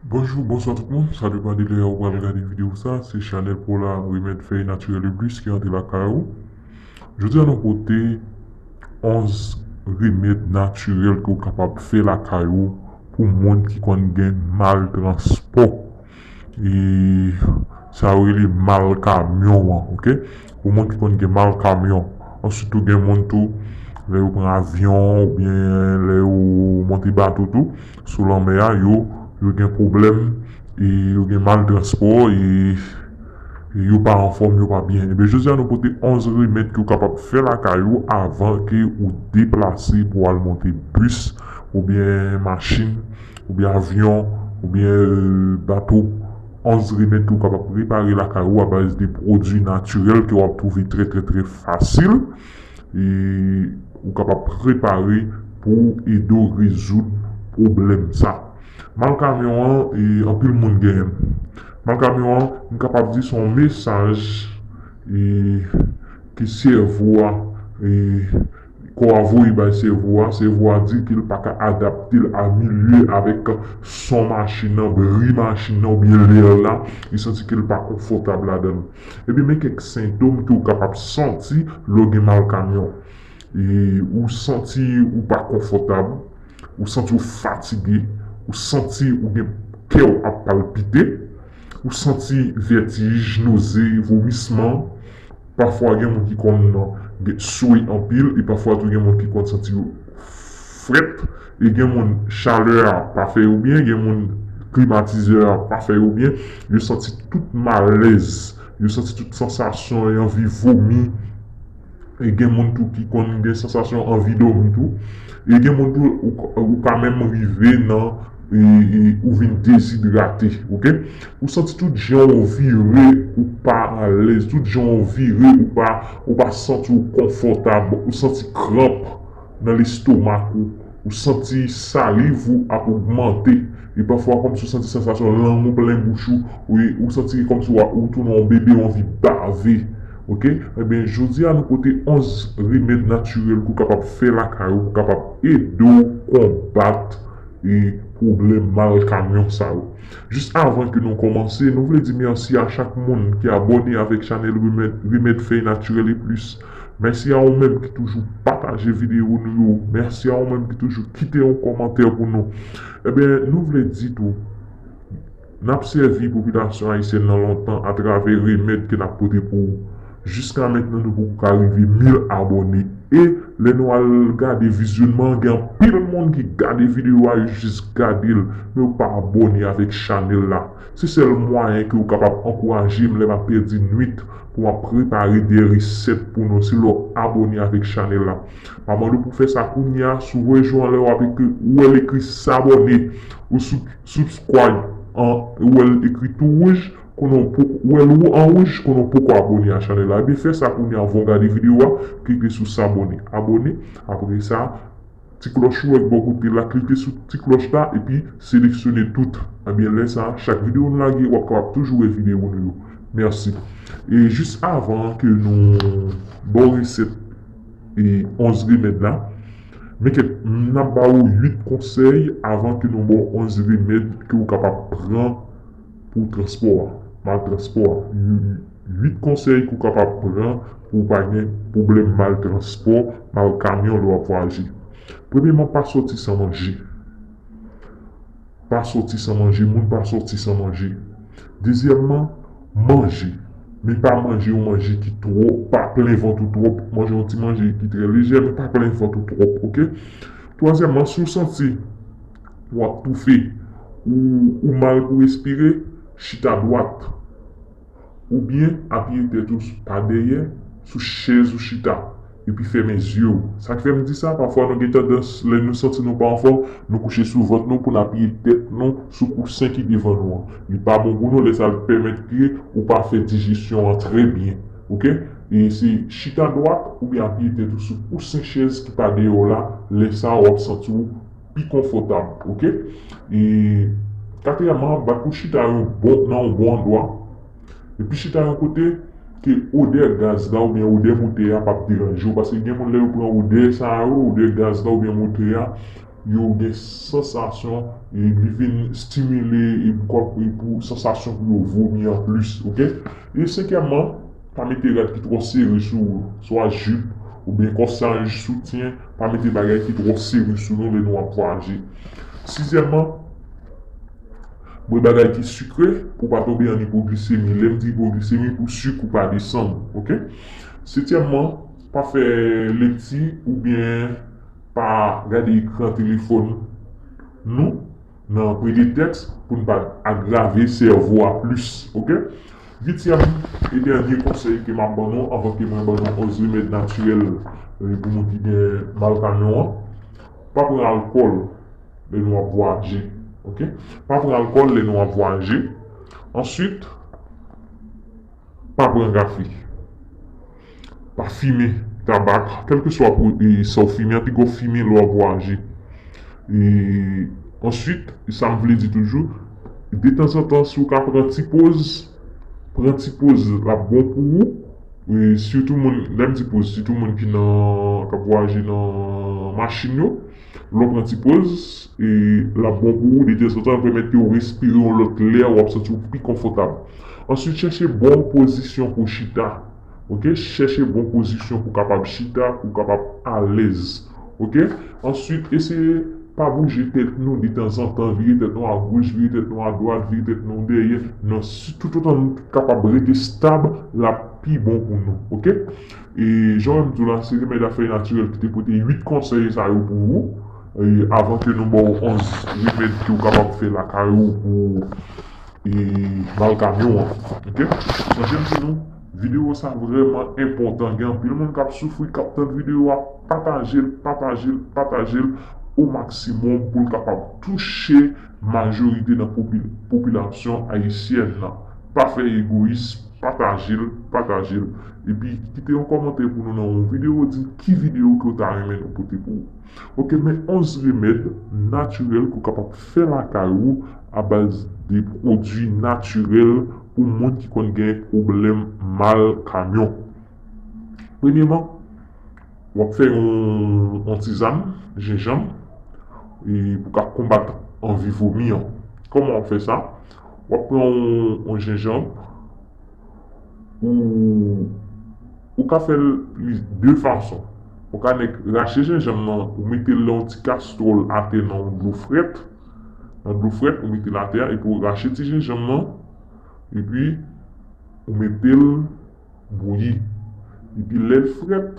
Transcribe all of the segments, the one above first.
Bonjou bonswa tout moun sa depan de lè ou pral gade video sa se chanèl pola remèd fèy natirèl e plis ki antre lakay ou jodi a nou pote 11 remèd natirèl ke ou kapab fè lakay ou pou moun ki konn gen mal transpò. E sa yo rele mal kamyon an ok pou moun ki konn gen mal kamyon answit tou gen moun tou lè yo pran avyon oubyen lè yo monte bato tou sou lanmè a yo yo gen pwoblèm e yo gen mal transpò e yo pa anfòm yo pa byen ebyen jodi a nou pote 11 remèd ke w kapab fè lakay ou avan ke ou deplase pou al monte bis oubyen machin oubyen avyon, oubyen bato, ons remèd ke ou kapab prepare lakay ou abaz de pwodwi natirèl ke wap twouve trè trè trè fasil e ou kapab prepare pou ede w rezoud pwoblèm sa. Mal kamyon an e anpil moun genyen l. Mal kamyon an m kapab di se yon mesaj e ke sèvo a e. Kò a voye bay sèvo a, sèvo a di ke l pa ka adapte l a milye avèk son machin nan, bri machin nan oubyen lèr la, li santi ke l pa konfòtab ladan l. Ebyen men kèk sentom ke w kapab santi lè w gen mal kamyon. Ou santi ou pa konfòtab, ou santi w fatige, ou santi ou gen kè w ap palpite, ou santi vètij, noze, vomisman. Pafwa gen moun ki konn swe anpil e pafwa tou gen moun ki konn santi yo frèt e gen moun chalè a pa fè yo byen, gen moun klimatizè a pa fè yo byen, yo santi tout malèz, yo santi tout sansasyon e anvi vomi e gen moun tou ki konn gen sansasyon anvi dòmi tou e gen moun tou ou ka menm rive nan. Ou vin dezidrate ok. Ou santi tout jan ou vire ou pa alèz, tout jan ou vire ou pa santi ou konfòtab, ou santi kranp nan lestomak ou, ou santi saliv ou ap ogmante e pafwa kòmsi ou santi sansasyon lang ou plen bouch ou, ou santi kòmsi ou tounen yon bebe ou anvi bave ok. Ebyen jodi a nou pote 11 remèd natirèl ke w kapab fè lakay ou pou kapab ede w konbat. e pwoblèm mal kamyon sa yo. Jis avan ke nou kòmanse, nou vle di mèsi a chak moun ki abòne avèk chanèl Remèd Fèy Natirèl e Plis. Mèsi a ou menm ki toujou pataje videyo nou yo. Mèsi a ou menm ki toujou kite yon kòmantè pou nou. Enben, nou vle di tou. N ap sèvi popilasyon ayisyèn nan lontan atravè remèd ke n ap pote pou ou. Jiska mentnan nou poko ka rive 1000 abòne e lè nou al gade vizyonman an gen anpil moun ki gade videyo a yo jis gade l men yo pa abòne avèk chanèl la. Se sèl mwayen ke ou kapab ankouraje m lè m ap pèdi nwit pou m ap prepare de resèt pou nou se lè w abòne avèk chanèl la. M ap mande w pou w fè sa kounya si w wè jou anlè w ap ekri ou wè l ekri sabòne ou sou. Subscribe an ou wèl ekri tou wouj konnen ou poko ou wèl ou an wouj konnen ou poko abone a chanèl la ebyen fè sa kounye a avan ou gade video a klike sou sabone abone apre sa ti klòch ou wè ki bò kote la klike sou ti klòch la epi seleksyone tout ebyen lè sa chak video nou lage wap kapab toujou wè video nou yo mèsi e jis avan ke nou baw resèt e 11 remèd la. Mete, N ap ba ou 8 konsèy avan ke nou ba w 11 remèd ke ou kapab pran pou transpò a, mal transpò a. 8 konsèy ke ou kapab pran pou ou pa gen pwoblèm mal transpò, mal kamyon lè w ap vwayaje. Premyeman, pa sòti san manje. Pa soti san manje, moun pa soti san manje. Dezyèmman, manje. Men pa manje yon manje ki twò, pa plen vant ou twòp. Manje yon ti manje ki trè lejè, men pa plen vant ou twòp, ok. Twazyèmman, si w santi w ap toufe, ou mal pou respire, chita dwat. Ou byen apiye tèt ou pa dèyè sou chèz ou chita epi fèmen zye w. Sa k fè m di sa, pafwa nou gen tandans lè nou santi nou pa anfòm, nou kouche sou vant nou pou n apiye tèt nou sou kousen ki devan nou an. Li pa bon pou nou lè sa l pèmèt ke ou pa fè dijesyon an trè byen. Ok. E se chita dwat oubyen apiye tèt ou sou kousen chèz ki pa dèyè w la, lè sa w ap santi w. pi konfòtab ok e katriyèman bat pou chita yon bon nan yon bon andwa epi chita yon kote ke odè gaz la oubyen odè motè a pap deranje w paske gen moun lè yo pran odè sa yo odè gaz la oubyen motè a yo gen sansasyon e li vin stimile e pou sansasyon pou yo vomi anplis ok e senkyèman. Pa mete rad ki twò sere sou ou, swa jip, oubyen kòsaj, soutyen, pa mete bagay ki twò sere sou nou lè nou ap vwayaje. Sizyèman, bwè bagay ki sikre pou w pa tonbe an ipoglisemi, lè m di ipoglisemi pou sik ou pa desann ok. Setyèmman, pa fè lekti oubyen pa gade ekran telefòn nou. Nan prete tèks pou n pa agrave sèvo a plis ok. Uityèm e dènye konsèy ke m ap ban nou anvan ke mwen ban nou òz remèd natirèl pou moun ki gen mal kanyon an, pa pran alkòl lè nou ap vwaje ok. Pa pran alkòl lè nou ap vwaje answit. Pa pran gafe. Pa fimen tabak, kèlkeswa sa ou fimen an, pi gwo fimen lè w ap vwayaje. E answit, sa m vle di toujou, detanzantan si w ka pran ti poz, pran ti poz l ap bon pou ou. E sitou moun, lè m di poz, sitou moun ki nan, k ap vwayaje nan machin yo. Lè w pran ti poz, l ap bon pou ou detanzantan pèmèt ke w respire yon lòt lè w ap santi w pi konfòtab. Answit chèche bon pozisyon pou chita ok chèche bon pozisyon pou kapab chita pou kapab alèz ok answit eseye pa bouje tèt nou detanzantan vire tèt nou agoch vire tèt nou adwat vire tèt nou dèyè nan si toutotan nou kapab rete stab l ap pi bon pou nou ok. E jan mwen di w la, se remèd a fèy natirèl ki te pote 8 konsèy sa yo pou ou. Avan ke nou ba w 11 remèd ke ou kapab fè lakay ou pou ou mal kamyon an. Ok. Sonje m di nou, videyo sa vrèman enpòtan. Gen anpil moun k ap soufri, k ap tande videyo a. Pataje l, pataje l, pataje l o maksimòm pou l kapab touche. Majorite nan popilasyon ayisyèn nan pa fè egoyis patajel patajel epi kite yon kòmantè pou nou nan yon video di ki video ke ou ta renmen nou pote pou ou ok men 11 remèd natirèl ke ou kapab fè lakay ou a baz de pwodwi natirèl pou moun ki konn gen pwoblèm mal kanyon premyeman Wap fè yon tizann jenjanm pou ka konbat anvi vomi an. Koman wap fè sa? Wap pran yon jenjanm ou ka fèl li de fason. Ou ka nèk rache jenjanm nan ou metel nan yon ti kastwòl atè nan yon dlo frèt. Nan dlo frèt ou metel atè a epi ou rache ti jenjanm nan epi ou metel. Bouyi. Epi lè l frèt,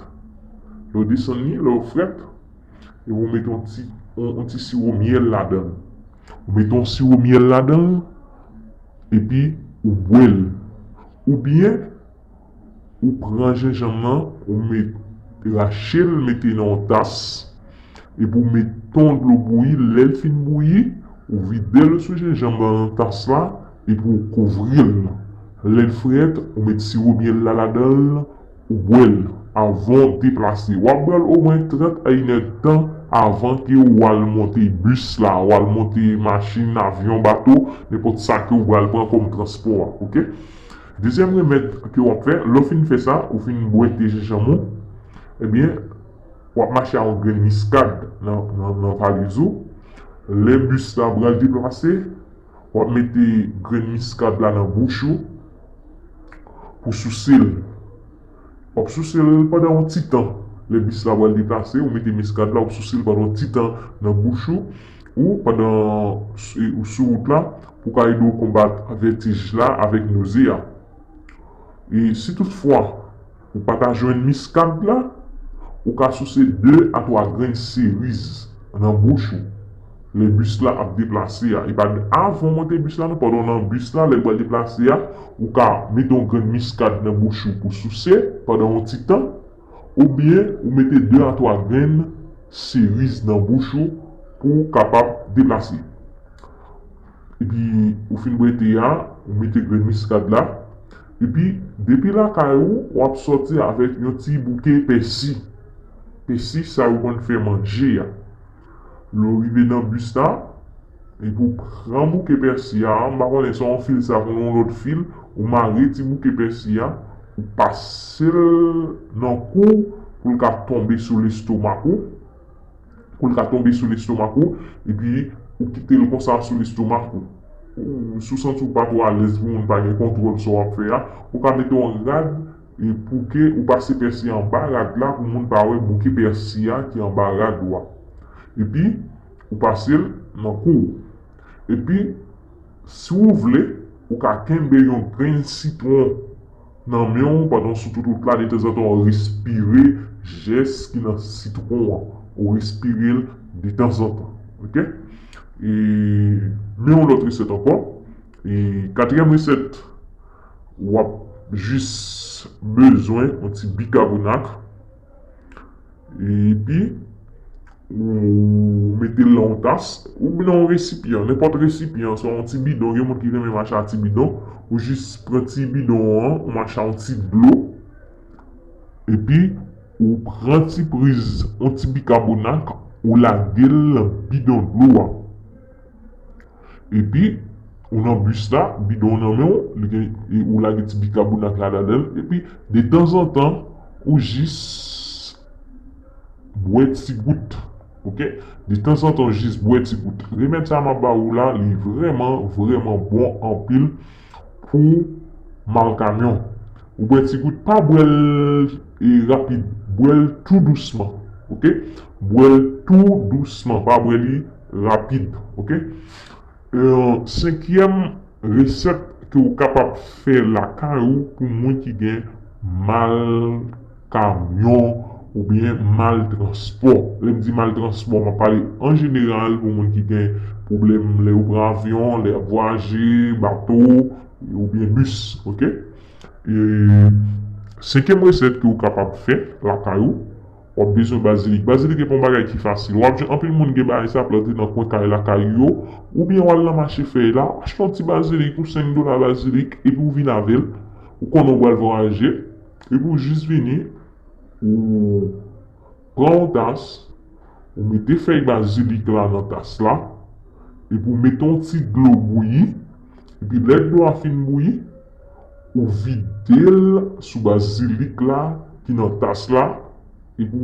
lè w desann li, lè w frèt, epi ou mete yon ti, yon ti siwo myèl ladan l. Ou mete yon siwo myèl ladan l, epi ou bwè l. Oubyen, ou pran jenjanm nan, ou met, rache l mete nan yon tas, epi ou met ton dlo bouyi, lè l fin bouyi, ou vide l sou jenjanm nan nan tas la. Epi ou kouvril lèl frèt ou met siwo myèl la ladanl ou bwèl avanw deplase wap bwèl omwen 30 a inèdtan avan ke ou al monte bis la ou al monte machin avyon bato nenpòt sa ke ou pral pran kòm transpò a ok dezyèm remèd ke wap fè lèw fin fè sa ou fin bwè te jenjanm ou ebyen wap mache a yon grenn miskad nan valiz ou lè bis la pral deplase Wap mete grenn miskad la nan bouch ou pou souse l. Wap souse l pandan yon ti tan. Lè bis la pral deplase, ou mete miskad la, wap souse l pandan yon ti tan nan bouch ou, ou pandan ou sou wout la pou ka ede w konbat vètij la avèk noze a. E si tout fwa. Ou pa ta jwenn miskad la? Ou ka souse 2 a 3 grenn seriz nan bouch ou lè bis la ap deplase a. Epa avan ou monte bis la non, pandan ou nan bis la lè l pral deplase a, ou ka mete yon grenn miskad nan bouch ou pou souse pandan yon ti tan, oubyen ou mete 2 a 3 grenn seriz nan bouch ou pou kapab deplase. Epi ou fin bwè te a, ou mete grenn miskad la. Epi depi lakay ou, w ap sòti avèk yon ti bouke pèsi. Pèsi sa yo konn fè manje a. Lè w rive nan bis la, epi ou pran bouke pèsi a, m pa konnen se yon fil sa konn yon lòt fil, ou mare ti bouke pèsi a, ou pase l nan kou w pou l ka tonbe sou lestomak ou. pou l ka tonbe sou lestomak ou epi ou kite l konsa sou lestomak ou. Si w santi w pa twò alèz pou moun pa gen kontwòl sa w ap fè a, ou ka mete yon rad pou ke ou pase pèsi anba rad la pou moun pa wè bouke pèsi a ki anba rad ou a. Epi ou pase l nan kou w. Epi si w vle, ou ka kenbe yon grenn sitwon. Nan men w pandan sou tout wout la detanzantan w respire jès ki nan sitwon an ou respire l detanzantan ok e men yon lòt resèt ankò e katriyèm resèt wap jis bezwen yon ti bikabonak. Epi, ou mete l nan yon tas, ou nan yon resipyan, nenpòt resipyan, swa yon ti bidon, gen moun ki renmen mache a ti bidon, ou jis pran ti bidon an, ou mache a yon ti dlo, epi ou pran ti priz yon ti bikabonak, ou lage l nan bidon dlo a. Epi ou nan bus la, bidon nan men w, li gen, ou lage ti bikabonat la ladan l, epi de tanzantan ou jis bwè ti gout, ok, de tanzantan ou jis bwè ti gout. Remèd sa m ap ba ou la, li vrèman, vrèman bon anpil. Pou mal kamyon. Ou bwè ti gout pa bwèl rapid bwèl tou dousman ok bwèl tou dousman pa bwè li rapid ok senkyèm resèt ke ou kapab fè lakay ou pou moun ki gen mal. kamyon oubyen mal transpò. Lè m di mal transpò, m ap pale an jeneral pou moun ki gen pwoblèm lè yo pran avyon, lè y ap vwayaje, bato oubyen bis ok. Senkyèm resèt ke ou kapab fè lakay ou, w ap bezwen bazilik. Bazilik e pa yon bagay ki fasil. W ap jwenn anpil moun gen bagay sa, plante nan kwen kay lakay yo oubyen w al nan mache fèy la, achte yon ti bazilik ou 5 dola bazilik epi ou vin avè l. Ou konnen ou pral vwayaje. Depi w jis vini, ou pran yon tas, ou mete fèy bazilik la nan tas la, epi w mete yon ti dlo bouyi, epi lè dlo a fin bouyi, ou vide l sou bazilik la ki nan tas la, epi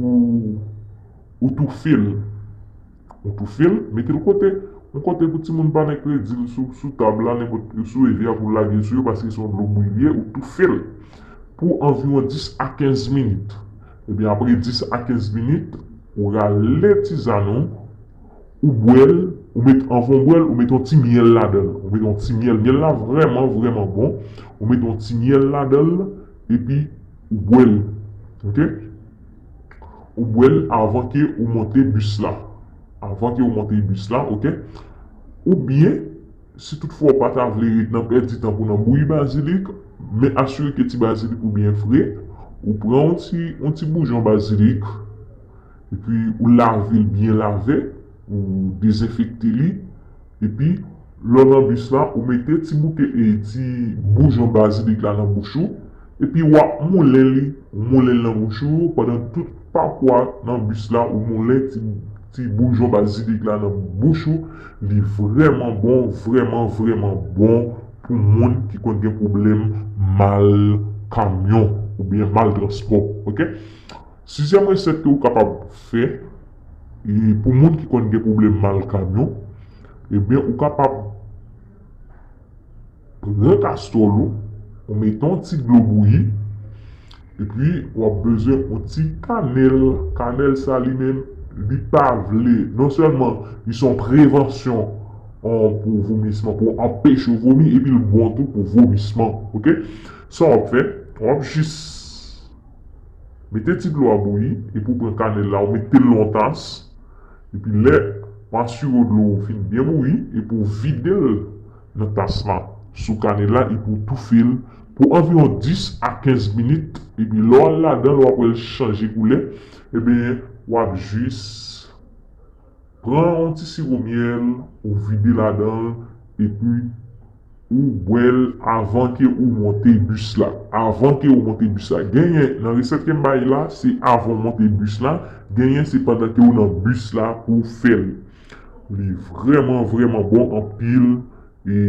w toufe l. Ou toufe l, mete l kote. Yon kote pou timoun pa met kredi l sou tab la, nenpòt, sou revi a pou l lage sou yo paske se yon dlo bouyi li ye, ou toufe l pou anviwon 10 a 15 minit. Ebyen apre 10 a 15 minit, ou rale tizann ou, ou bwè l, ou met, anvan ou bwè l, ou met yon ti myèl ladan l. Ou met yon ti myèl, myèl la vrèman, vrèman bon. Ou met yon ti myèl ladan l epi ou bwè l. Ok. Ou bwè l avan ke ou monte bis la. Avan ke ou monte bis la, ok. Ou byen, si tout fwa ou pa ta vle ret nan pèdi tan pou nan bouyi bazilik, men asire ke ti bazilik ou byen fre, ou pran yon ti, yon ti boujon bazilik, epi ou lave l byen lave, ou dezenfekte li. Epi lè w nan bis la ou mete ti bouke e ti boujon bazilik la nan bouch ou epi wap moulen li ou moulen l nan bouch ou pandan tout pakwa nan bis la ou moulen ti ti boujon bazilik la nan bouch ou li vrèman bon vrèman vrèman bon pou moun ki konn gen pwoblèm mal kamyon oubyen mal transpò ok. Sizyèm resèt ke ou kapab fè pou moun ki konn gen pwoblèm mal kanyon ebyen ou kapab pran kastòl ou ou mete yon ti dlo bouyi epi wap bezwen yon ti kanèl kanèl sa li menm li pa vle non sèlman li son prevansyon pou vomisman pou anpeche ou vomi epil bon tou pou vomisman ok sa wap fè wap jis. Mete ti dlo a bouyi epi ou pran kanèl la ou mete l nan yon tas epi lè ou asire w dlo ou fin byen bouyi epi ou vide l nan tas la sou kanèl la epi ou toufe l pou anviwon 10 a 15 minit epi lè w al ladan l wap wè l chanje koulè ebyen wap jis Pran yon ti siwo myèl ou vide ladanl epi ou bwèl avan ke ou monte bus la avan ke ou monte bus la genyen nan resèt kem bay la se avan ou monte bus la genyen se pandan ke ou nan bus la pou ou fèl li vrèman vrèman bon anpil e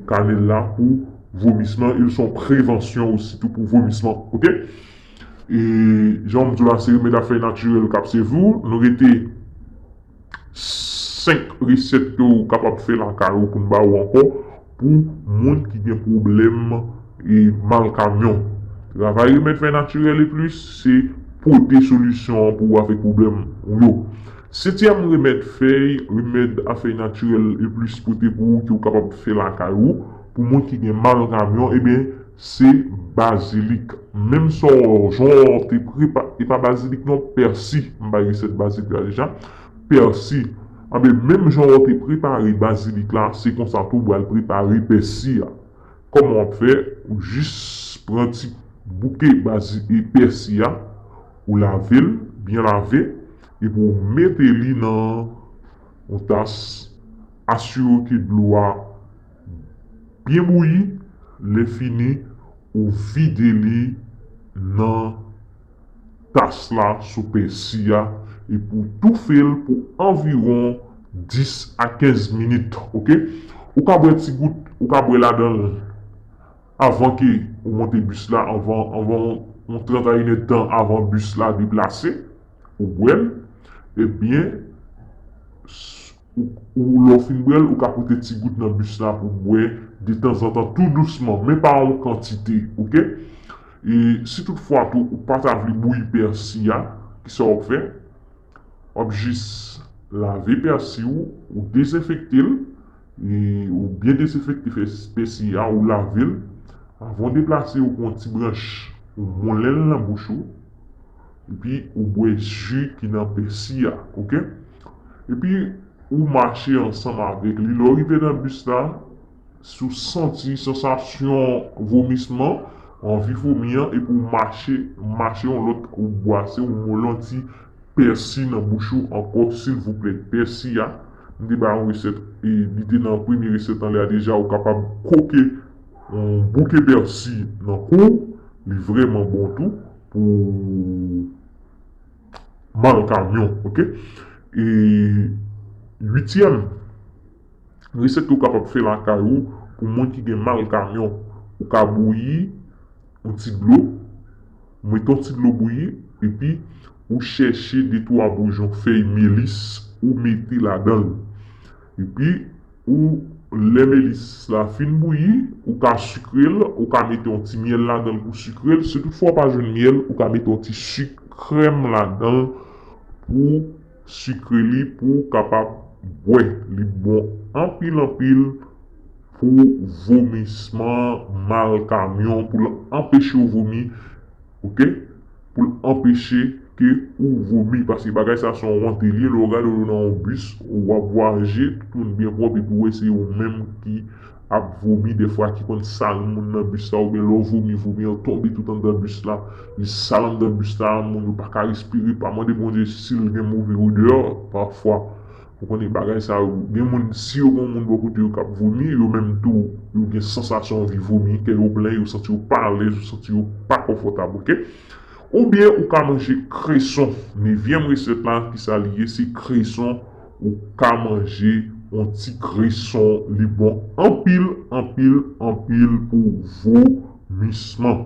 kanel la pou vomisman el son prevansyon osi tou pou vomisman ok. E jan m di w la se remèd a fèy natirèl k ap sèvi w. Nou rete 5 resèt ke w kapab fè lakay ou pou n ba ou ankò pou moun ki gen pwoblèm e mal kamyon. Travay remèd fèy natirèl e plis se pote solisyon an pou ou avèk pwoblèm ou yo. Setyèm remèd fèy remèd a fèy natirèl e plis pote pou ou ke w kapab fè lakay ou pou moun ki gen mal kamyon, eben, Se bazilik menm sa w jan w te prepa e pa bazilik non pèsi m bay resèt bazilik la deja pèsi anben menm jan w te prepare bazilik la se konsa tou w pral prepare pèsi a kòman w ap fè ou jis pran ti bouke bazi e pèsi a ou lave l byen lave epi w mete li nan yon tas asire w ke dlo a. Byen bouyi, lè fini ou vide li nan tas la sou pèsi a epi ou toufe l pou anviwon 10 a 15 minit ok, ou ka bwè ti gout ou ka bwè ladan l avan ke ou monte bis la anvan yon 30 a inèd tan avan bis la deplase ou bwè l ebyen. Ou lè w fin bwè l, ou ka pote ti gout nan bus la pou w bwè detanzantan tou dousman, men pa yon kantite ok. E si tout fwa tou ou pa ta vle bouyi pèsi a, ki sa w ap fè? W ap jis lave pèsi ou, ou dezenfekte l, e ou byen dezenfekte pèsi a, ou lave l, avan w deplase ou pran yon ti branch ou moulen l nan bouch ou, Epi ou bwè ji ki nan pèsi a ok. Epi ou mache ansanm avèk li lè w rive nan bis la si w santi sansasyon vomisman anvi fomi an epi w mache mache yon lòt ou bwase yon mò yon ti pèsi nan bouch ou ankò silvouplè pèsi a m te bay yon resèt e li te nan premye resèt anlè a deja ou kapab koke yon bouke pèsi nan kou w li vrèman bon tou. pou mal kamyon ok e uityèm resèt ke ou kapab fè lakay ou pou moun ki gen mal kamyon ou ka bouyi yon ti dlo ou mete yon ti dlo bouyi epi ou chèche de twa boujon fèy melis ou mete ladanl. Epi ou lè melisse la fin bouyi ou ka sikrel ou ka mete yon ti myèl ladanl pou sikrel si tout fwa ou pa jwenn myèl ou ka mete yon ti sik krèm ladanl pou sikre li pouw kapab bwè li bon anpil anpil pou vomisman mal kamyon poul anpechew vomi ok. Pou l anpeche ke ou vomi. Paske bagay sa son wont li ye lè ou gade ou nan yon bis ou wap vwayaje tout moun byen pwòp epi ou wè se ou menm ki ap vomi dèfwa ki konn sal moun nan bis la oubyen lè ou vomi vomi an tonbe tout anndan bis la li sal anndan bis la moun yo paka respire pa mande Bondye si l gen move odè pafwa Ou konnen bagay sa yo gen moun si yo gen yon moun bò kote yo kap vomi yo menm tou yo gen sansasyon anvi vomi kè yo plen yo santi yo pa alèz yo santi yo pa konfòtab ok oubyen ou ka manje kreson nevyèm resèt la kisa li ye se kreson ou ka manje yon ti kreson li bon anpil anpil anpil pou vomisman.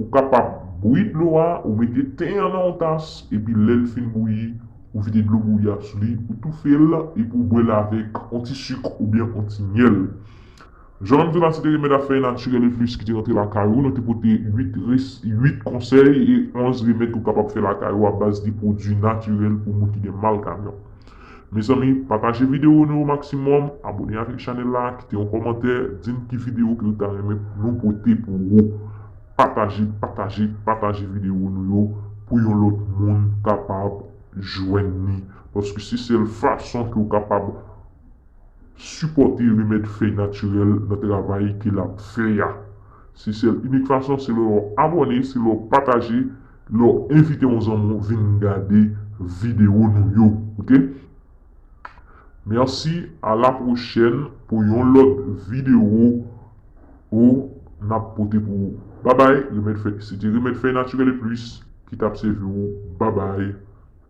Ou kapab bouyi dlo a, ou mete ten an nan yon tas epi lèl fin bouyi ou vide dlo bouyi a sou li ou toufel epi ou bwèl avèk yon ti suk oubyen yon ti myèl. Jan manmi Tonati te renmen ta fè naturel e plus ki te rantre lakay ou nou te pote 8 res 8 konsèy e 11 remèd ou kapab fè lakay ou a baz de pwodwi naturel pou moun ki gen mal kamyon. Mezanmi pataje video nou yo maximum, abone avek chanel la, kite yon komantè, dim ki video ke ou ta renmen pou nou pote pou ou. Pataje, pataje, pataje video nou yo pou yon lot moun kapab jwenn ni. Paske se sel fason ke ou kapab sipote remed fey natirel nan travay ke lap fè ya. Se sel inik fason se lè ou abone, se lè ou pataje. Lè w envite yon zanmi w vin gade video nou yo ok. Merci a la pwochèn pou yon lòt video o nap pote pou ou babay remèd fèy se te remèd fèy naturel et plus ki tap sèvi ou babay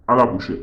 a la pwochèn.